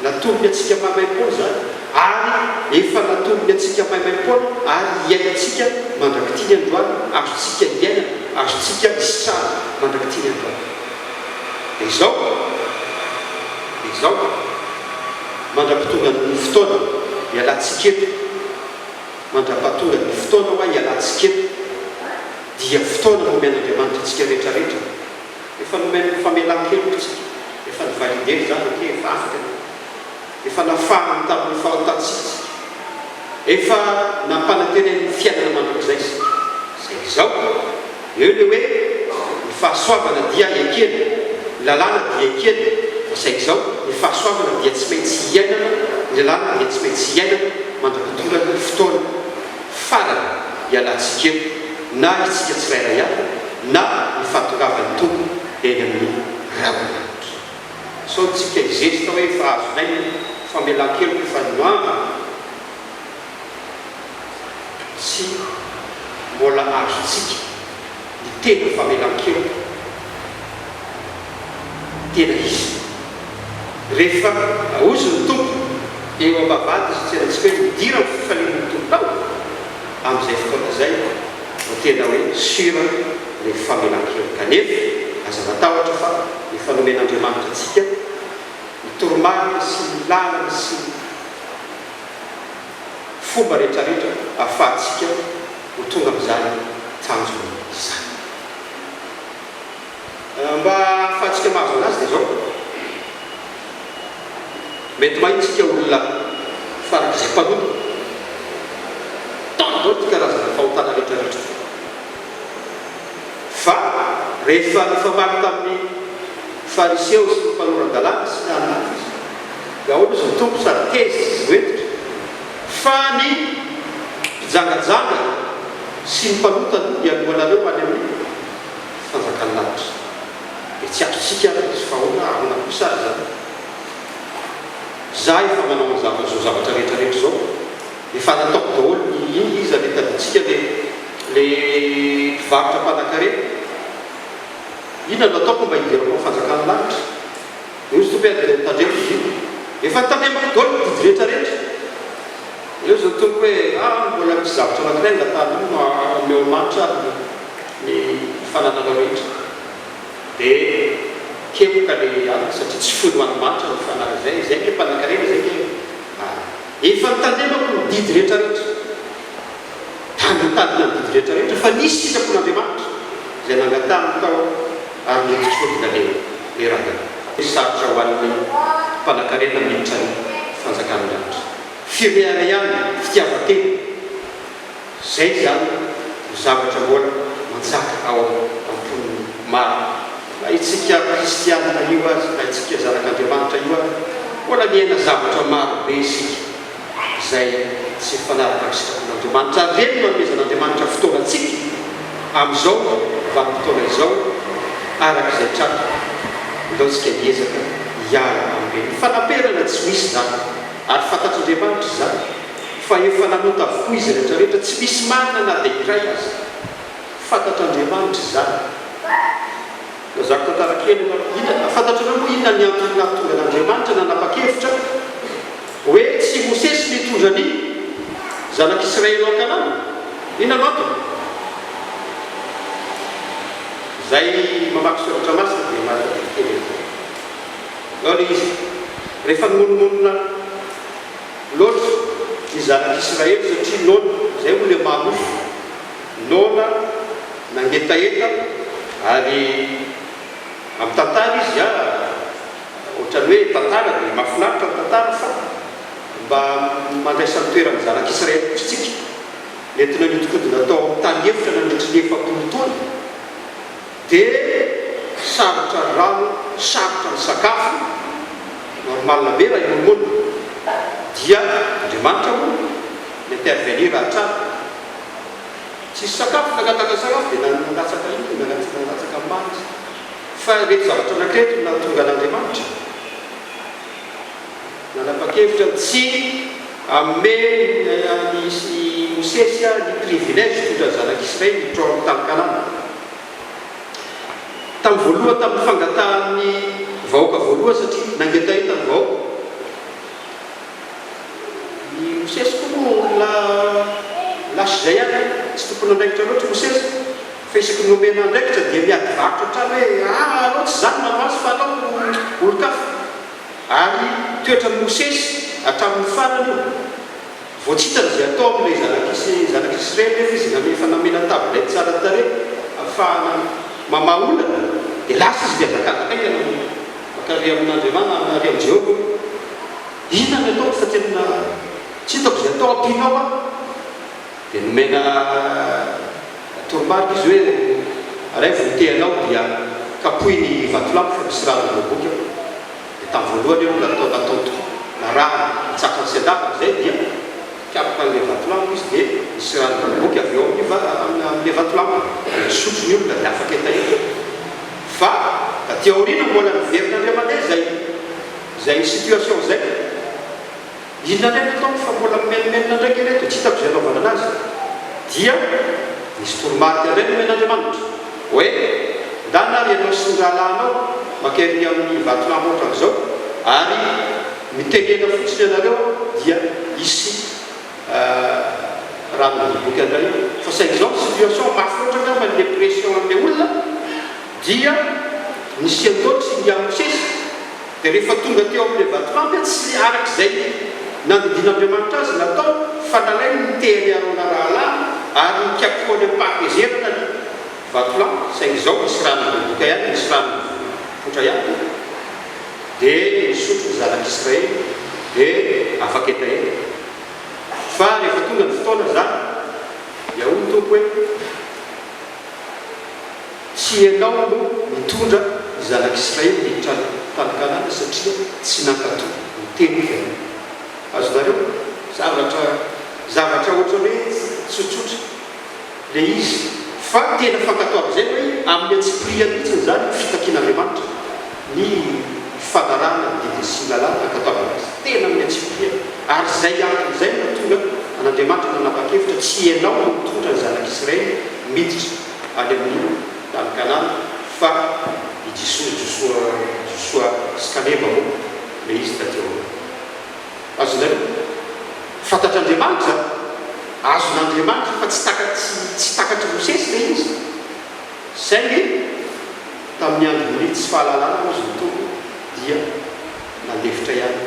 Natombony antsika maimaim-poana izany ary efa natombony antsika maimaim-poana ary hiainantsika mandrak'ity ny androany, azontsika iainana, azontsika isitrahana mandrak'ity ny androany. Dia izao, dia izao, mandra-potongan'ny fotoana, ialantsika eto, mandra-pahatongan'ny fotoana hoa ialantsika eto, dia fotoana nomen'Andriamanitra antsika rehetra rehetra. Efa nomen'ny famelan-kelotsika, efa ni-valider izany ok, efa afaka ny efa nafahany tamin'ny fahotantsika isika, efa nampanantenen'ny fiainana mandrakizay isika, izay izao, eo ilay hoe ny fahasoavana dia ekena, ny lalàna dia ekena, izay izao, ny fahasoavana dia tsy maintsy iainana, ny lalàna dia tsy maintsy iainana mandra-pidoran'ny fotoana. farany hialantsika eto na isika tsirairay avy na ny fahatongavan'ny Tompo eny amin'ny ravin'ahitra. Sao tsika hizesta hoe efa azo lainga ny famelan-keloka efa niomana? Tsia, mbola azontsika. ny tena famelan-keloka tena izy. Rehefa raozy ny Tompo eo am-bavahady izy tsy alantsika hoe midira ny fifaliana ny Tompo tao, amin'izay fotoana izay vao tena hoe sur ny famelan-keloka. Nefa aza matahotra fa efa nomen'Andriamanitra antsika ny toromarika sy ny lalana sy ny. fomba rehetrarehetra ahafahantsika ho tonga amin'izany tanjona izany. Mba ahafahantsika mahazo an'azy dia izao, mety mahita isika olona farak'izay mpanota tany daholo ity karazana fahotana rehetrarehetra ity, fa rehefa nifamaly tamin'ny Fariseo sy ny mpanoran-dalàna sy ny hafa izy, Daholo izy mitombo sady tezitra sy voentitra fa ny mpijangajanga sy ny mpanota aloha dia alohanareo any amin'ny fanjakan'ny lanitra. Dia tsy azontsika ary izy fa ahoana ahoana kosa ary izany? Izaho efa manao an'izany izao zavatra rehetra rehetra izao, efa nataoko daholo ny inona iza le tadintsika le le mpivarotra mpanankarena? Inona no ataoko mba hidirako amin'ny fanjakan'ny lanitra? Io tsy tokony avereno tandremo izy io. Efa tandremako daolo ny didy rehetra rehetra. Aleo zao tompoko hoe ah mbola misy zavatra anakiray mba tandremo no omeo amanitra ary ny fanananao rehetra. De kemoka le alina satria tsy fony ho an manitra ny fanahy izay izay nge mpanakarena izay nge ah efa tandremako ny didy rehetra rehetra. Tany nitadina ny didy rehetra rehetra, fa nisy sisa fon' Andriamanitra izay nangatahany tao ary noditr'ody ny lalena. Ry rahalahy, tsy sarotra ho an'ny mpanankarena miditra ny fanjakan'ny lanitra. Firehana ihany, fitiavan-tena, izay izany no zavatra mbola manjaka ao am-pon'ny maro. Na itsika kristiana io aza, na itsika zanak' Andriamanitra io aza, mbola miaina zavatra maro be isika. izay tsy mifanaraka amin'ny sitrapon'Andriamanitra. Ary ireny no anomezan'Andriamanitra fotoana antsika amin'izao vanim-potoana izao, araka izay tratra. Ilaontsika hiezaka hiala amin'ireny. Ny fanaperana tsy misy izany, ary fantatr'Andriamanitra izany, fa efa nanota avokoa izy rehetrarehetra, tsy misy marina na dia iray aza. Fantatr'Andriamanitra izany. Lazako tantara kely aloha ny hita, na fantatrareo moa inona ny antony nahatonga an'Andriamanitra nanapa-kevitra hoe tsy i Mosesy no hitondra ny zanak'Israely ao Kanana? Inona no antony? Izay mamaky soratra masina dia mahatadidy kely an'izay. Izao ilay izy, Rehefa nimonomonona loatra ny zanak'Israely satria noana, izay moa ilay maha nofo, Noana nangetaheta ary amin'ny tantara izy a, ohatran'ny hoe tantara dia mahafinaritra ny tantara fa mba mandraisan'ny toeran'ny zanak'i Israely koa isika. Nentina nihodinkodina tao amin'ny tany efitra nandritry ny efapolo taona, dia sarotra ny rano, sarotra ny sakafo, normal be raha hiombona, dia Andriamanitra moa mi-intervenir hatrany. Tsisy sakafo nangataka sakafo dia nanana latsaka iny no nangataka latsaka maro izy. Fa ireto zavatra anankiray no nahatonga an'Andriamanitra nanapa-kevitra ny tsy hanome an'i Mosesy ny privilège hitondra ny zanak'Israely hiditra ao amin'ny tany Kanana. Tamin'ny voalohany tamin'ny fangatahan'ny vahoaka voalohany satria nangetaheta ny vahoaka. I Mosesy koa moa olona lasa izay ihany, tsy tompon'andraikitra loatra i Mosesy, fa isaky ny omena andraikitra dia miady varotra hatrany hoe aa alao tsy izaho no manao azy fa alao olon-kafa. Ary toetran'i Mosesy hatramin'ny farany io. Vao tsy hitany izay atao amin'ilay zanak'ise, zanak'Israely nefa izy namehy fa namena tabilety tsara tarehy afahana mamaha olana, dia lasa izy dia nangataka haingana mody mankaria amin'Andriamana, mankaria amin'i Jehovah hoe, Inona ny ataoko fa tena tsy hitako izay atao, ampianao aho. Dia nomena toromarika izy hoe, Araivo ny tehanao dia kapohy ny vatolampy fa misy rano ny voaboky ao. Dia tamin'ny voalohany aloha natao natao tokoa, narahana, natsakany sy andavany izay dia nikapoka an'ilay vatolampy izy dia nisy rano namoaka avy eo amin'ny va amin'ilay vatolampy dia nisotro ny olona dia afaka hetaheta fa taty aoriana mbola niverina indray mandeha izay izay situation izay. Inona indray no ataoko fa mbola mimenomenona indray kely eto tsy hitako izay anaovana anazy. Dia nisy toromarika indray nomen'Andriamanitra hoe, Ndana ary ianao sy ny rahalahinao maka ery amin'ny vatolampy ohatran'izao ary mitenena fotsiny ianareo dia hisy raha midoboka indray ao. Fa saingy izao ny situation mafy loatra angamba ny depression an'ilay olona dia nisian'ireo tsy mby hamosesy. Dia rehefa tonga teo amin'ilay vatolampy aho tsy araka izay nandidian'Andriamanitra azy natao fa nalainy ny tehan'i Arona rahalahy ary nikapohany am-pahatezerana ny vatolampy, saingy izao nisy rano nidoboka ihany, nisy rano nipoitra ihany, dia nisotro ny zanak'Israely dia afaka hetaheta. Fa rehefa tonga ny fotoana izany dia hoy ny Tompo hoe. Tsy ianao aloha nitondra ny zanak'Israely niditra any tany Kanana satria tsy nankato ny teniko ianao. Azonareo? Zavatra, zavatra ohatra hoe tsotsotra le izy, fa tena fankatoavin'izay hoe amin'ny antsipiriany mihitsiny izany ny fitakian'Andriamanitra ny fanarahana ny didiny sy ny lalàny, nankatoaviny azy tena amin'ny antsipiriany. Ary izay antony izay no nahatonga an'Andriamanitra nanapa-kevitra tsy ianao no nitondra ny zanak'Israely miditra. any amin'ny tany Kanana fa i Jisoa Josoa Josoa sy Kaleba moa ilay izy taty aoriana. Azonareo? Fantatr'Andriamanitra izany. Azon'Andriamanitra fa tsy takatsy tsy takatr'i Mosesy ilay izy. Saingy tamin'ny andron'ny tsy fahalalana hoy izy nitondra dia nalefitra ihany.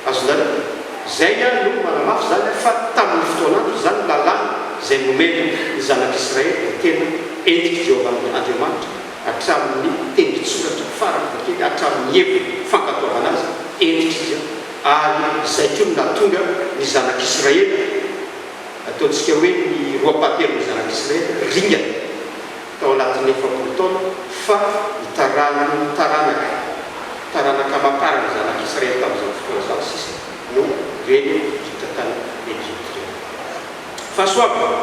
Azo lalina. Izay ihany no manamafy izany fa tamin' ny fotoanandro izany ny lalàna izay nomena ny Zanak' Israely dia tena entin' i Jehovah Andriamanitra hatramin' ny tendron-tsoratra farany na kely hatramin' ny heviny fankatoavana azy hentitra izy ary izay koa no nahatonga ny Zanak' Israely, ataontsika hoe ny roapahatelon' ny Zanak' Israely, ringana. tao anatin'ny efapolo taona, fa ny taranan'ny taranaka, taranaka aman-taran'ny zanak'i Israely tamin'izany fotoana izany sisa no reny hiditra tany Egypta ireny. Fahasoavana!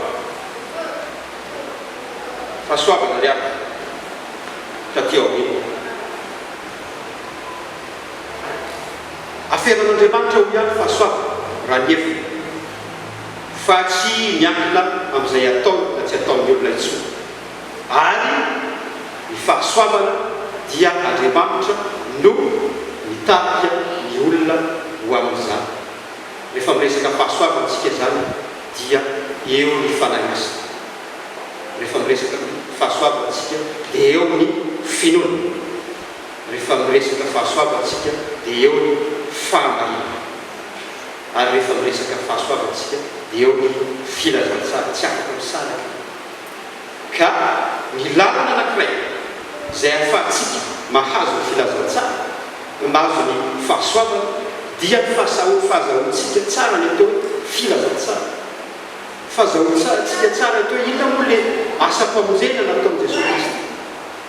Fahasoavana ry havana, tatỳ aoriana. Aferan'Andriamanitra ho ihany fahasoavana, raha ny heviny. fa tsy miankina amin'izay ataony na tsy ataon'ny olona intsony, ary ny fahasoavana dia Andriamanitra no mitarika ny olona ho amin'izany. Rehefa miresaka fahasoavana isika izany dia eo ny Fanahy Masina. Rehefa miresaka fahasoavana isika dia eo ny finoana. Rehefa miresaka fahasoavana isika dia eo ny fahamarinana. ary rehefa miresaka fahasoavana isika dia eo ny filazantsara tsy afaka misaraka ka ny lalana anankiray izay ahafahantsika mahazo ny filazantsara ho mahazo ny fahasoavana dia ny fahasaho fahazahoantsika tsara ny atao hoe filazantsara fahazahoantsika tsara ny atao hoe inona moa ilay asam-pamonjena nataon'i Jesoa Kristy?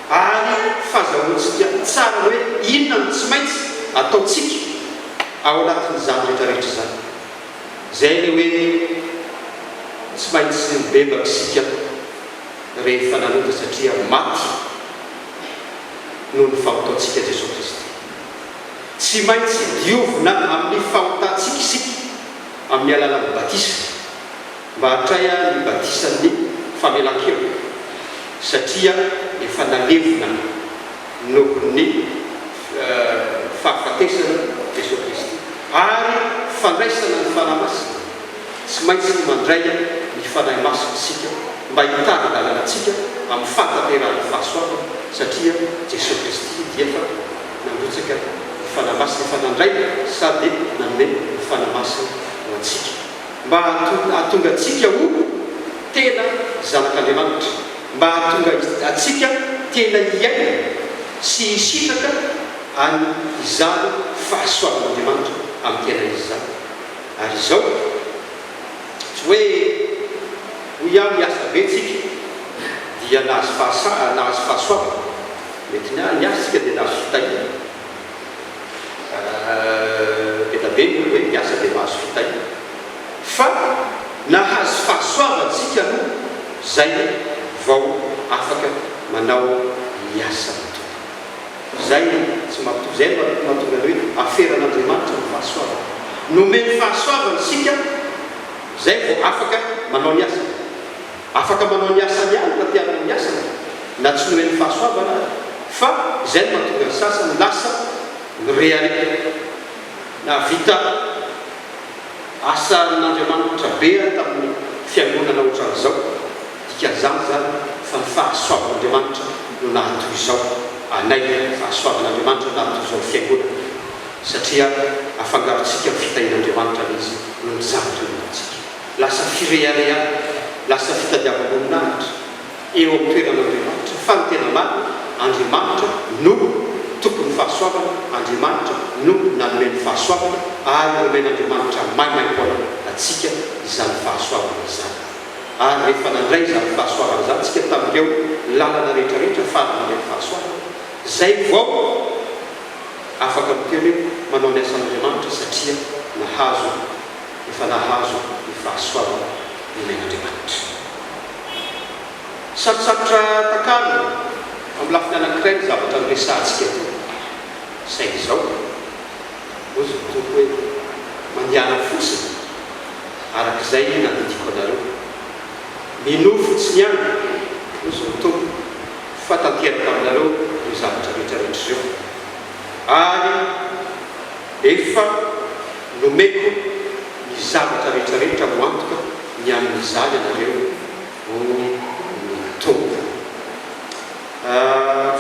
ary fahazahoantsika tsara hoe inona no tsy maintsy ataontsika ao anatin'izany rehetrarehetra izany. Izay ilay hoe tsy maintsy nibebaka isika rehefa nanota satria maty noho ny fahotantsika Jesoa Kristy. Tsy maintsy diovina amin'ny fahotantsika isika amin'ny alalan'ny batisa. Mba hatray ary ny batisan'ny famelan-keloka, satria efa nalevina nohon'ny fahafatesan'i Jesoa Kristy. Ary fandraisana ny Fanahy Masina, tsy maintsy mandray ny Fanahy Masina isika mba hitari-dalana antsika amin'ny fahatanterahan'ny fahasoavana, satria Jesoa Kristy dia efa nandrotsaka ny Fanahy Masina, efa nandray sady nanome ny Fanahy Masina ho antsika. mba hahatonga antsika ho tena zanak'Andriamanitra, mba hahatonga antsika tena hiaina sy hisitraka an' izany fahasoavan'Andriamanitra amin'ny tenany izany. Ary izao, tsy hoe hoy aho niasa be tsika dia nahazo fahasoavana, mety niasa isika dia nahazo fitahiana, Ela be ny olona hiasa dia mahazo fitahiana. Fa nahazo fahasoavana isika aloha izay vao afaka manao ny asan'ny Tompo. Izay tsy mahatonga, izay no mahatonga ny hoe aferan'Andriamanitra ny fahasoavana. Nomeny fahasoavana isika izay vao afaka manao ny asany. Afaka manao ny asany ihany raha te hanao ny asany na tsy nomen'ny fahasoavana ary, fa izay no mahatonga ny sasany lasa mireharehaka. Nahavita asa amin'Andriamanitra be aho tamin'ny fiangonana ohatran'izao. Dikan'izany izany fa ny fahasoavan'Andriamanitra no naha toy izao anay, fahasoavan'Andriamanitra no naha toy izao ny fiangonana, satria afangarontsika amin'ny fitahian'Andriamanitra ilay izy noho ny zava-tolona antsika. Lasa firehareha, lasa fitadiavam-boninahitra eo amin'ny toeran'Andriamanitra, fa ny tena marina, Andriamanitra no Tompon'ny fahasoavana, Andriamanitra no nanome ny fahasoavana, ary nomen'Andriamanitra maimaim-poana antsika izany fahasoavana izany. Ary rehefa nandray izany fahasoavana izany isika tamin'ireo lalana rehetrarehetra fara mandray ny fahasoavana, izay vao afaka miteny hoe manao ny asan'Andriamanitra satria nahazo. efa nahazo ny fahasoavana nomen' Andriamanitra. Sarotsarotra takarina amin'ny lafiny anankiray ny zavatra noresahantsika teo, saingy izao, hoy ny Tompo hoe, Mandehana fotsiny araka izay nandidiako anareo. Minoa fotsiny ihany, hoy ny Tompo, fa tanteraka aminareo ireo zavatra rehetra rehetra ireo, ary. Efa nomeko ny zavatra rehetrarehetra ho antoka ny amin'izany ianareo, hoy ny Tompo.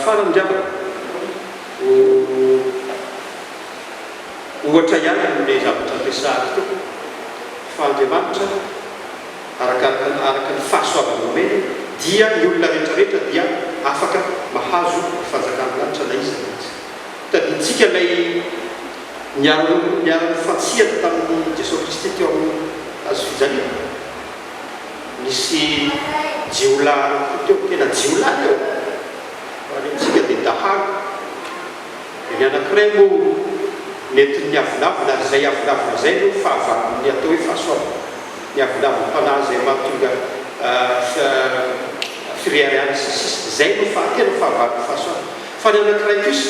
Farany angamba, ho ohatra ihany amin'ilay zavatra ampiasahako teo, fa Andriamanitra, arakaraka ny, araka ny fahasoavany omeny, dia ny olona rehetrarehetra dia afaka mahazo ny fanjakan'ny lanitra na iza na iza. Tadidintsika ilay niara-nonina niara-nifantsihana tamin'i Jesoa Kristy teo amin'ny hazo fijaliana. Nisy jiolahy anankiroa teo, tena jiolahy ireo, raha ny amintsika dia dahalo. Dia ny anankiray moa nentin'ny niavolavona, ary izay avolavona izay no fahavalon' ny atao hoe fahasoavana, ny avolavon-panahy izay mahatonga fireharehana sy ny sisa. Izay no faha, tena fahavalon'ny fahasoavana. Fa ny anankiray kosa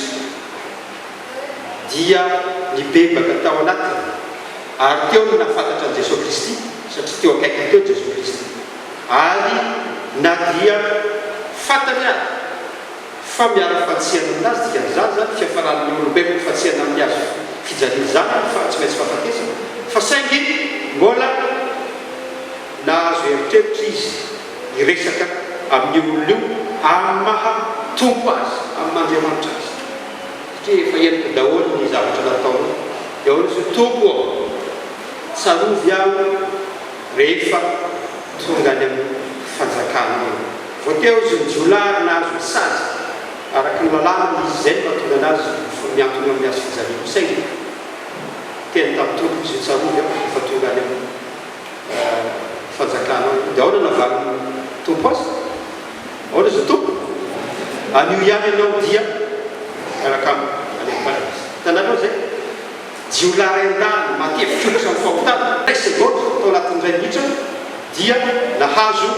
dia nibebaka tao anatiny, ary teo no nahafantatra an'i Jesoa Kristy, satria teo akaikiny teo Jesoa Kristy, ary na dia fantany ary fa miara-fantsihana aminazy, dikan'izany izany, fiafaran'ny maha olombelona ny fantsihana amin'ny hazo fijalian'ny zanany, fa tsy maintsy fahafatesana, fa saingy mbola nahazo eritreritra izy. hiresaka amin'io olona io amin'ny maha Tompo azy, amin'ny maha Andriamanitra azy, satria efa henoko daholo ny zavatra nataony, dia ahoana izy hoe, Tompo ô, tsarovy aho rehefa tonga any amin'ny fanjakanao eo. Vao teo izy ny jiolahy ary nahazo ny sazy, araka ny lalàna dia izy izay no mahatonga anazy ho mihantona amin'ny hazofijaliako, saingy niteny tamin'ny Tompony izy hoe, tsarovy aho rehefa tonga any amin'ny. fanjakana ao. Dia ahoana navalin'ny Tompo azy? Ahoana izy Tompo? Anio ihany ianao dia miaraka amiko any amin'ny Paradisa. Hitanareo izay? Jiolahy iray nandalo matetika ohatra ny fahotana, iray segondra tao anatin'ny iray minitra dia nahazo.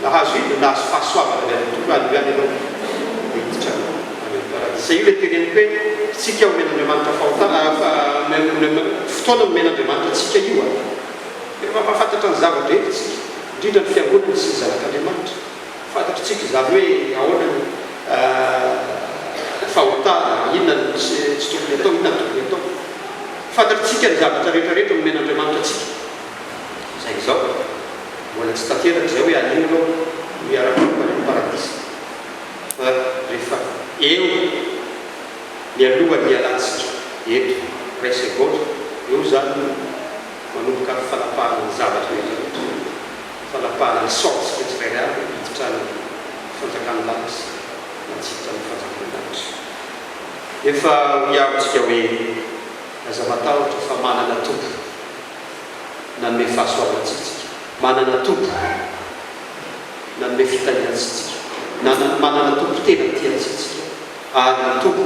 Nahazo inona? Nahazo fahasoavana avy amin'ny Tompo Aleloia anie ianao dia hiditra any amin'ny paradisa. Izay io ilay teneniko hoe tsika omen'Andriamanitra fahotana fotoana nomen'Andriamanitra antsika io an! Efa mampahafantatra ny zavatra eto tsika, indrindra ny fiangonana sy ny zanak'Andriamanitra. Fantatro tsika izany hoe ahoana ny fahotana, inona no tsy tokony atao, inona no tokony atao. Fantatro tsika ny zavatra rehetra rehetra nomen'Andriamanitra antsika. Saingy izao, mbola tsy tanteraka izay hoe anio ianao no hiara-hiombana amin'ny Paradisa, fa rehefa eo mialohan'ny hialantsika eto iray segondra, eo izany no manomboka ny fanapahana ny zavatra rehetra rehetra, fanapahana ny saontsika tsirairay avy hiditra any amin'ny fanjakan'ny lanitra na tsy hiditra amin'ny fanjakan'ny lanitra. Nefa hoy aho amintsika hoe, Aza matahotra fa manana Tompo. nanome fahasoavana antsitsika, manana Tompo nanome fitahiana antsitsika, nanana manana Tompo tena tia antsitsika, ary ny Tompo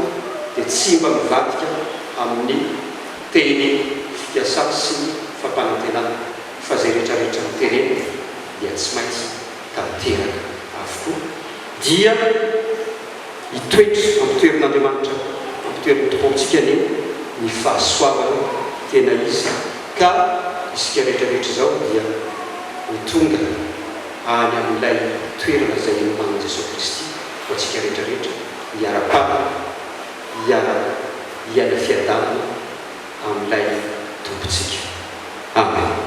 dia tsy mba mivadika amin'ny teny fikasany sy ny fampanantenany fa izay rehetra rehetra notereny dia tsy maintsy tanteraka avokoa, dia Hitoetra, ampitoerin'Andriamanitra, ampitoerin'ny Tompontsika anie ny fahasoavana tena izy ka isika rehetrarehetra izao dia ho tonga any amin'ilay toerana izay hinomanan'i Jesoa Kristy ho antsika rehetrarehetra, hiara-panana, hiara hiaina fiadanana amin'ilay Tompontsika. Amen.